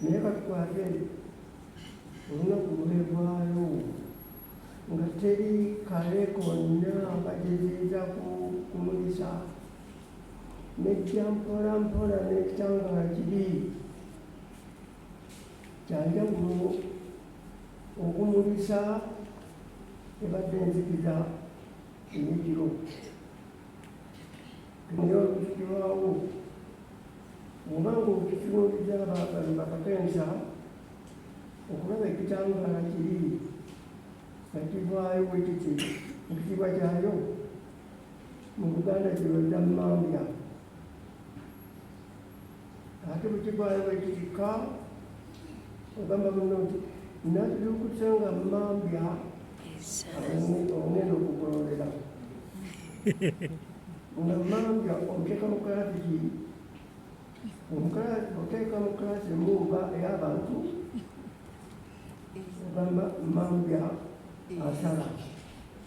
naye batwale olunaku lwevaayo nga teri kale konna bagezeeza kumulisa nejja mpola mpola nekitangala kibi kyanjawulo okumulisa ebadde enzikiza eyekiro Bino bifikirwawo oba ng'obifikirwa obijabaagano bakakensa okulaba ekitangaala kiri nakivaayo bwekiti mu kitiibwa kyayo mu buganda kyebaza mambya ate bukigwayo bwekirika ogamba buno nti nabyukutse nga mambya onena okugololera nga mambya omuteeka mu kalasi ki oteeka mu kalasi emumba eyabantu ogamba mambya asala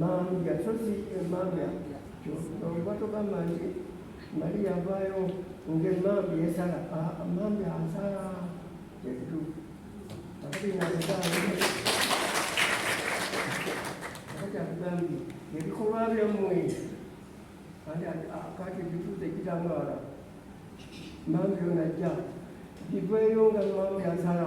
mambya sosi emambya oba togamba nti mali yavaayo ngaemambya esala mambya asala kyekituufu akatagambye ebikolwa byammwe kati bituuza ekitamwala mambya onajja biveeyo nga mambya asala